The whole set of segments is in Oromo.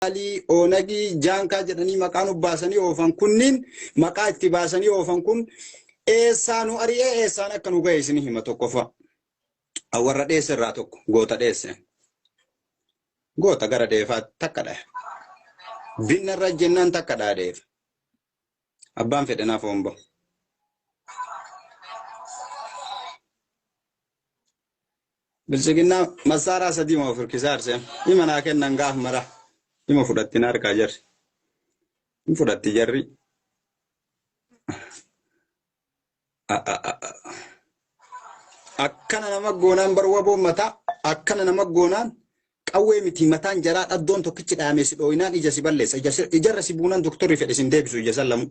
Alii, Oonagii, Jaankaa jedhanii maqaa nu baasanii oofan kunniin maqaa itti baasanii oofan kun eessaa nu ari'ee eessaan akka nu ga'e isin hima tokkoffaa. Warra dheesse irraa tokko goota dheesse. Goota gara dheefaa takka dhahe. Binna irra jennaan takka dhahe dheefa. Abbaan fedhe naaf homba'u. Biltsiginnaa massaaraa sadiima of hirkisaa hirseem. Ima naa kennan gaaf mara. Ima fudhatti na harkaa jarri. Hin fudhatti jarri. Akkana nama goonaan bar waboon mataa akkana nama goonaan qawwee miti mataan jaraa dhaddoon tokkichi dhaamee si dhooyinaan ija si balleessa. Ijarra si buunaan doktorri fedhe sin deebisu ija san lamuu.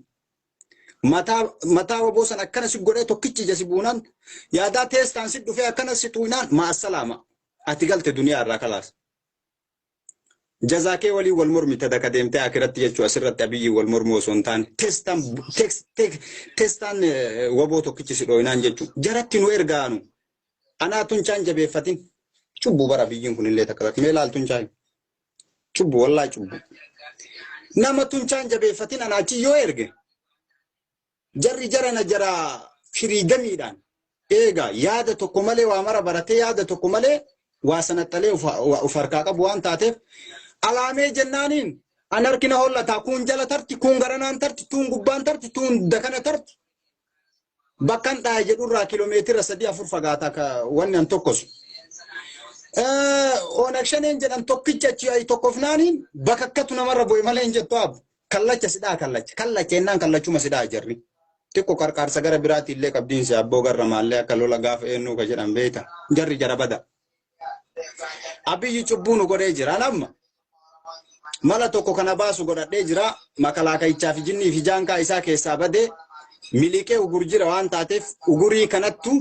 Mataa mataa waboo san akkana si godhee tokkichi ija si buunaan yaadaa teestaan si dhufee akkana si tuuynaan ma'assalaama. Ati galte duniyaa irraa kalaas. Jazaa kee waliin wal mormi tada ka deemtee akiratti jechuu asirratti abiyyiin wal mormuu osoo hin taane teestaan teeks- teek- teestaan eh, waboo tokkichi si dhooynaan jechuu jaratti nu ergaanu. Anaa tunchaan jabeeffatin. Cubbuu bara abiyyiin kunillee takka takka mee laal tunchaan. Cubbu wallaa cubbu. Nama tunchaan jabeeffatin ana achi yoo erge jarri jarana jara firiidamiidhaan eega yaada tokko malee waa mara baratee yaada tokko malee waa sanaxalee of harkaa qabu waan taateef alaamee jennaaniin an harkina hollataa kuun jala tarti kuun garanaan tarti tuun gubbaan tarti tuun dakana tarti bakkan dhaaye jedhurraa kiiloomeetira sadii afur fagaata akka wanni an tokkosu. Onag shaneen jedhan tokkicha achi ayi tokkofnaaniin bakka akkatu namarra bu'e malee hin jettu aabbu. Kallacha sidhaa kallacha kallacha ennaan kallachuma sidhaa jarri. Xiqqo qarqaarsa gara biraatti illee qabdiinsi abboo garra maallee akka lola gaafa eennuu ka jedhan beeyta jarri jara bada. Abiyyi cubbuu nu godhee jira namma. Mala tokko kana baasu godhadhee jira. Makalaakayichaa fi jinnii fi jaankaa isaa keessaa badee miliqee ugur jira waan taateef ugurii kanattu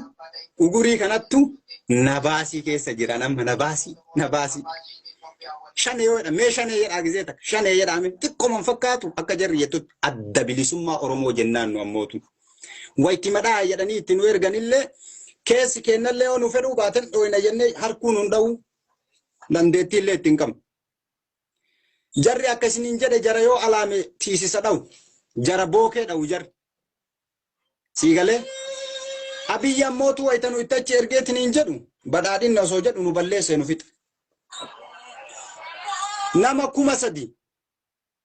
ugurii kanattu na baasii keessa jira namma na baasii na baasii. Shanee yoo jedha mee shanee jedhaa gizee takka shanee jedhaa mee xiqqooman fakkaatu akka jarri jettutti adda bilisummaa Oromoo jennaan nu ammootu. Wayitti madhaa jedhanii itti nu erganillee keessi keennallee yoo nu fedhuu baatan dhooyna jennee harkuun nun dha'uu dandeettiillee itti hin qabnu. Jarri akka isiniin jedhe jara yoo alaame tiisisa dha'u. Jara bookee dha'u jarri. Sii galee? Abiyyi ammootu wayita nu itti achi ergeetiin hin jedhu badhaadhinna osoo jedhu nu balleessee nu fixa. Nama kuma sadi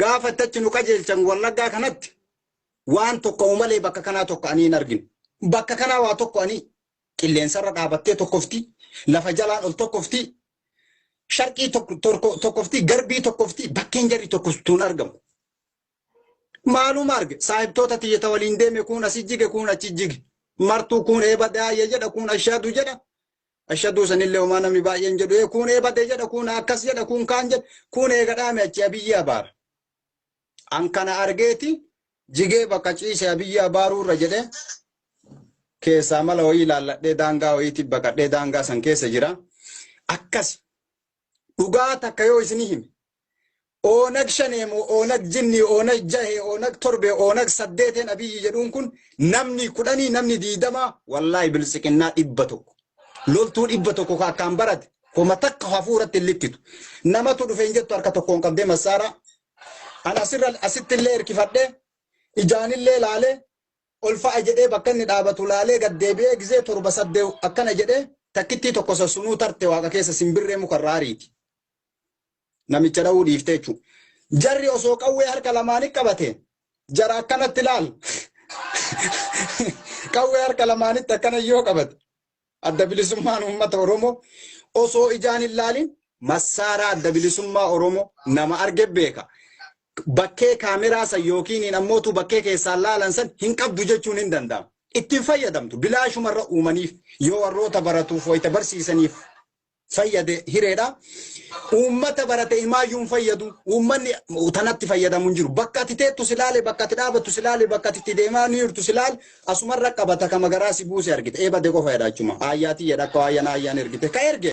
Gaafa itti achi nu qajeelchan Wallaggaa kanatti waan tokko malee bakka kanaa tokko anii hin argine. Bakka kanaa waa tokko anii qilleensarra dhaabattee tokkofti, lafa jalaan ol tokkofti, sharqii tokkofti, garbii tokkofti, bakkeen jarri tokkoftu hin argamu. Maaluma arge saahibtoota tiyyata waliin deeme kuun asi jige kuun achi jige. Martuu kuun eeba daayya jedha kuun ashaadu jedha. Ashaduu sanillee homaa namni baay'een jedhu ee kuun eebade jedha kuun akkas jedha kuun kaan jedha kuun eega dhaame achi abiyyi abaara. An kana argeeti jigee bakka ciise abiyyi abaaruu irra jedhe keessaa mala wayii ilaalladhee daangaa wayiitti baqadhee daangaa san keessa jira. Akkasi dhugaa takka yoo isinii hime oonag shanee moo oonag jinnii oonag jahee oonag torbee oonag saddeeteen abiyyi jedhuun kun namni kudhanii namni diidamaa wallaahi biltsiqinnaa dhibba tokko loltuu dhibba tokko ka akkaan barate homa takka hafuuratti hin likkitu namatu dhufe hin jettu harka tokkoon qabdee massaaraa an asirra asitti illee hirkifadhee ijaanillee laalee ol fa'a jedhee bakka inni dhaabatu laalee gad deebi'ee gizee torba saddew akkana jedhee takkittii tokko san sunuu tarte waaqa keessa simbirree muka irraa ariiti. Namicha dha'uu dhiiftee jechuudha. Jarri osoo qawwee harka lamaanii qabate jara akkanatti laal. Qawwee harka lamaanitti akkana yoo qabate Adda Bilisummaan Uummata Oromoo osoo ijaan hin laalin massaaraa Adda Bilisummaa Oromoo nama arge beeka. Bakkee kaameraa san yookiin ammoo utuu bakkee keessaan laalan san hin qabdu jechuun hin danda'amu. Ittiin fayyadamtu bilaashumarra uumaniif yoo warroota baratuuf wayita barsiisaniif fayyade hireedha. Uummata barate imaayyuu hin fayyadu. Uummanni tanatti fayyadamu hin jiru. Bakka ati teettu si laale, bakka ati dhaabattu si laale, bakka ati itti deemaa ni jirtu si laale, asumarra qabata kama garaa si buuse argite. Ee bade qofa jedha achuma. Aayyaa tiyya dhakka waayyana aayyaan ergite. Ka erge.